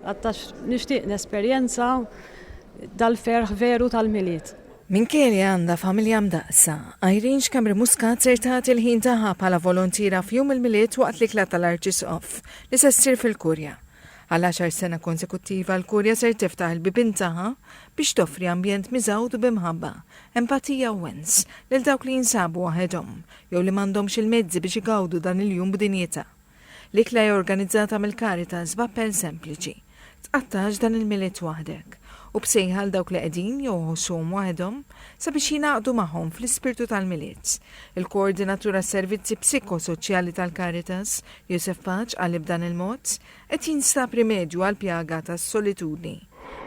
Għax nixtieq nesperjenza dal-ferħ veru tal-Milied. Minkejja li għandha familja mdaqqsa, Irene Xkembri Muscat ser tagħti l-ħin tagħha bħala volontiera f'Jum il-Milied waqt l-ikla tal-Arċisqof li se ssir fil-Kurja. Għal għaxar sena konsekuttiva l-Kurja ser tiftaħ il-bibien tagħha biex toffri ambjent miżgħud bi mħabba, empatija u wens lil dawk li jinsabu waħedhom jew li m'għandhomx il-mezzi biex igawdu dan il-jum b'dinjità. L-ikla hija organizzata mill-Caritas b'appell sempliċi, Tqattax dan il-Milied waħdek, u b'sejħa għal dawk li qegħdin jew iħossuhom waħedhom sabiex jingħaqdu magħhom fl-ispirtu tal-Milied. Il-Koordinatur għas-Servizzi Psikosoċjali tal-Caritas, Josef Paċ, qalli b'dan il-mod, Qed jinstab rimedju għall-pjaga tas-solitudni.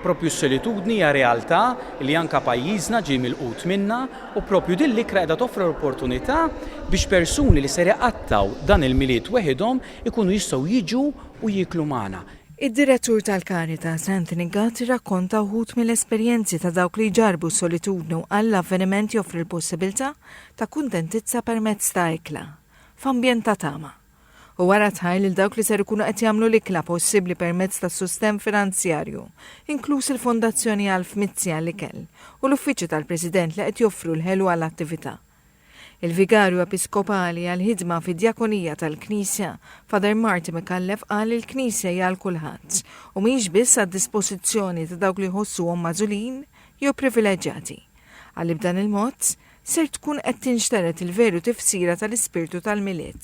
Proprju s-solitudni hija realtà li anke pajjiżna ġej milqut minnha u proprju din l-ikra qiegħda toffri l-opportunità biex persuni li ser iqattgħu dan il-Milied weħidhom ikunu jistgħu jiġu u jieklu magħna. Id-Direttur tal-Caritas, Anthony Gatt irrakkonta wħud mill-esperjenzi ta' dawk li jġarrbu s-solitudni u qal l-avveniment joffri l-possibilità ta' kuntentizza permezz ta' ikla, f'ambjent ta' tama. u wara tħajr lil dawk li ser ikunu qed jagħmlu l-ikla possibbli permezz tas-sustenn finanzjarju, inkluż il-Fondazzjoni Alf Mizzi għall-Ikel u l-Uffiċċju tal-President li qed joffru l-ħelu għall-attività. Il-Vigarju Episkopali għall-Ħidma fid-Djakonija tal-Knisja, Father Marty Micallef qal li l-Knisja hija għal kulħadd u mhijiex biss għad-dispożizzjoni ta' dawk li jħossuhom magħżulin jew privileġġjati. Qal li b'dan il-mod, ser tkun qed tinxtered il-veru tifsira tal-ispirtu tal-Milied.